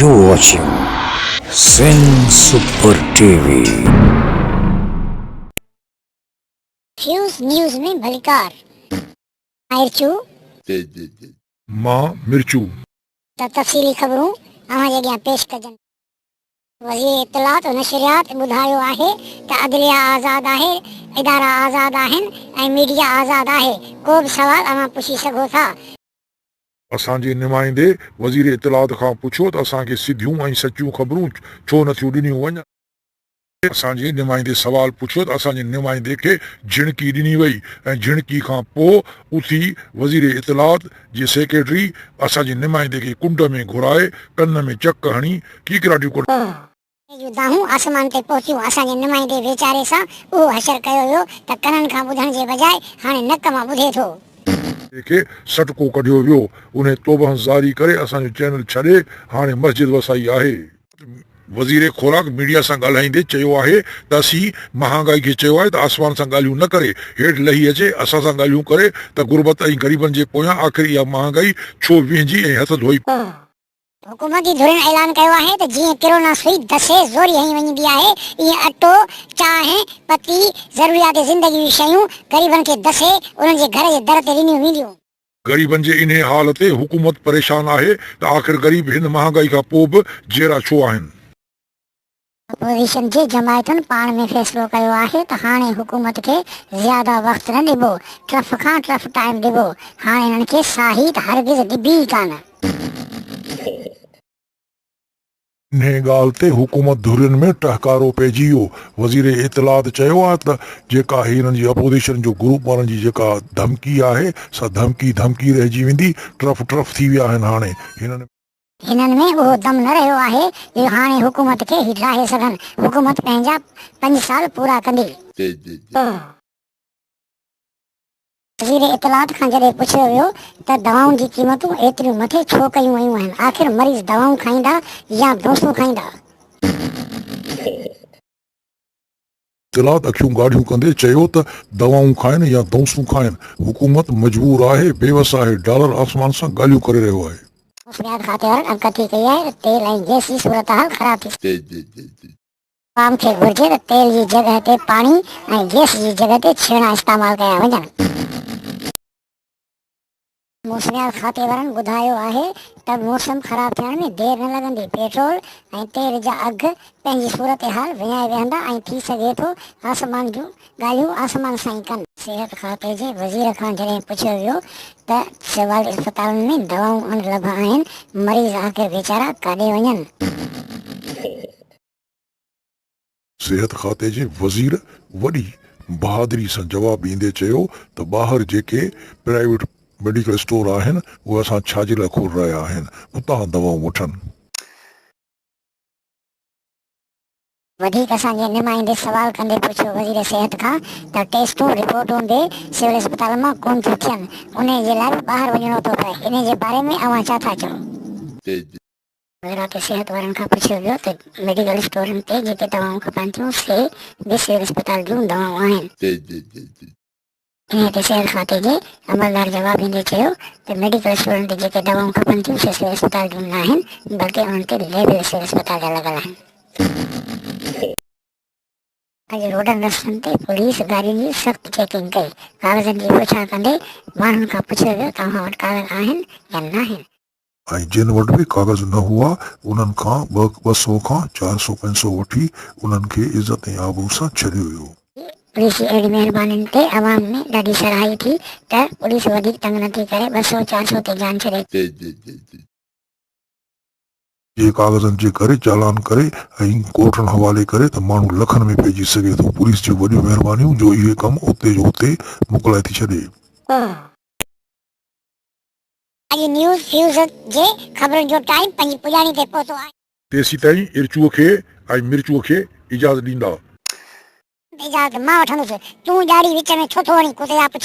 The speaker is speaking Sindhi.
U watching Sindh super T V. فيوز نيوز ۾ ڀليڪار. ماهر چو. مان مرچو. ته تفصيلي خبرون اوهان جي اڳيان پيش ڪجن. وزير اطلاعات و نشريات ٻڌايو آهي ته عدليه آزاد آهي، ادارا آزاد آهن ۽ ميڊيا آزاد آهي، ڪو به سوال اوهان پڇي سگهو ٿا. اسان جي نمائندي وزير اطلاعات کان پڇيو ته اسان کي سڌيون ۽ سچيون خبرون ڇو نه ٿيون ڏنيون وڃن؟ اسان جي نمائندي سوال پڇيو ته اسان جي نمائندي کي جهڻڪي ڏني وئي ۽ جهڻڪي کان پوء اٿي وزير اطلاعات جي سيڪريٽري اسان جي نمائندي کي ڪنڊ ۾ گهرائي ڪن ۾ چڪ هڻي ڪيڪراٽيون ڪڍڻ ۽ جون دانهون آسمان تي پهتيون اسان جي نمائندي ويچاري سان اهو حشر ڪيو ويو ته ڪنن کان ٻڌڻ جي بجاء هاڻي نڪ مان ٻڌي ٿو. تنهن کي سٽڪو ڪڍيو ويو. انهي توبهن زاري ڪري اسان جو چينل ڇڏي هاڻي مسجد وسائي آهي. وزير خوراڪ ميڊيا سان ڳالهائيندي چيو آهي ته اسين مهانگائي کي چيو آهي ته آسمان سان ڳالهيون نه ڪري هيٺ لهي اچي اسان سان ڳالهيون ڪري ته غربت ۽ غريبن جي پويان آخر اها مهانگائي ڇو ويهنجي ۽ هٿ ڌوئي حڪومتي ڌرين اعلان ڪيو آهي ته جيئن ڪرونا سوئي دسي زوري هنئي وڃبي آهي، ايئن اٽو، چانهه، پتي، ضروريات زندگي جون شيون غريبن کي دسي انهن جي گهر جي در تي ڏنيون وينديون. غريبن جي انهيء حال تي حڪومت پريشان آهي ته آخر غريب هن مهانگائي کان پوء به جيئرا ڇو آهن؟ اپوزيشن جي جماعتن پاڻ ۾ فيصلو ڪيو آهي ته هاڻي حڪومت کي زياده وقت نه ڏبو، ٽرف کان ٽرف ٽائيم ڏبو، هاڻ انهن کي ساهي ته هرگز ڏبي ئي ڪانه. انهيء ڳالهه تي حڪومت ڌرين ۾ ٽهڪارو پئجي ويو. وزير اطلاعات چيو آهي ته جيڪا هي انهن جي اپوزيشن جو گروپ وارن جي جيڪا ڌمڪي آهي سا ڌمڪي ڌمڪي رهجي ويندي، ٽرف ٽرف ٿي ويا آهن هاڻي هنن ۾. هنن ۾ اهو دم نه رهيو آهي جو هاڻي حڪومت کي هي ڊاهي سگهن، حڪومت پنهنجا پنج سال پورا ڪندي. وزير اطلاعات کان جڏهن پڇيو ويو ته دوائن جي قيمتون ايتريون مٿي ڇو ڪيون ويون آهن، آخر مريض دوائون کائيندا يا بونسون کائيندا؟ قرات اکيون ڳاڙهيون ڪندي چيو ته دوائون کائن يا دونسون کائن حڪومت مجبور آهي بيوس آهي ڊالر آسمان سان ڳالهيون ڪري رهيو آهي. موسميات کاتي وارن آگاهي ڪئي آهي ته تيل ۽ گئس جي صورتحال خراب ٿي سگهي. عوام کي گهرجي ته تيل جي جڳهه تي پاڻي ۽ گئس جي جڳهه تي ڇيڻا استعمال ڪيا وڃن. موسميات کاتي وارن ٻڌايو آهي ته موسم خراب ٿيڻ ۾ دير نه لڳندي پيٽرول ۽ تيل جا اگهه پنهنجي صورتحال وڃائي ويهندا ۽ ٿي سگهي ٿو آسمان جون ڳالهيون آسمان سان ئي ڪن. صحت کاتي جي وزير کان جڏهن پڇيو ويو ته سول اسپتالن ۾ دوائون اڻ لڀ آهن، مريض آخر ويچارا ڪاڏي وڃن؟ صحت کاتي جي وزير وڏي بهادري سان جواب ڏيندي چيو ته ٻاهر جيڪي پرائيويٽ ميڊيڪل اسٽور آهن اهي اسان ڇا جي لاء کول رهيا آهن اتان دوائون وٺن. وڌيڪ اسان جي نمائندي سوال ڪندي پڇيو وزير صحت کان ته ٽيسٽون رپورٽون به سول اسپتالن مان ڪونه ٿيون ٿين انهي جي لاء به ٻاهر وڃڻو ٿو پئي انهي جي باري ۾ اوهان ڇا ٿا چئو. ذرا ڪي صحت وارن کان پڇيو ويو ته ميڊيڪل اسٽورن تي جيڪي دوائون کپن ٿيون سي به سول اسپتال جون دوائون آهن. انهيء تي صحت کاتي جي عملدار جواب ڏيندي چيو ته ميڊيڪل اسٽورن تي جيڪي دوائون کپن ٿيون سي سول اسپتال جون ناهن بلڪه انهن تي ليبل سول اسپتال جا لڳل آهن. اڄ روڊن رستن تي پوليس گاڏين جي سخت چيڪنگ ڪئي، ڪاغذن جي پڇاڻ ڪندي ماڻهن کان پڇيو ويو توهان وٽ ڪاغذ آهن يا ناهن. ۽ جن وٽ به ڪاغذ نه هئا، انهن کان ٻه سؤ کان چار سؤ پئسو وٺي، انهن کي عزت ۽ آبرو سان ڇڏيو ويو. پوليس جي اهڙين مهربانين تي عوام ۾ ڏاڍي ساراهي ٿي ته پوليس وڌيڪ تنگ نه ٿي ڪري، ٻه سؤ چار سؤ تي جان ڇڏي. جي ڪاغذن جي ڪري چالان ڪري ۽ ڪورٽن حوالي ڪري ته ماڻهو لکن ۾ پئجي سگهي ٿو. پوليس جون وڏيون مهربانيون جو اهي ڪم اتي جو اتي مڪلائي ٿي ڇڏي. اڄ نيوز فيوزن جي خبرن جو ٽائيم پنهنجي پڄاڻي تي پهتو آهي. تيسيتائين ارچوء کي ۽ مرچوء کي اجازت ڏيندا. اجازت مان وٺندس. تون ڄاڙي وچ ۾ ڇو ٿو وڙين ڪتي آ پڇ.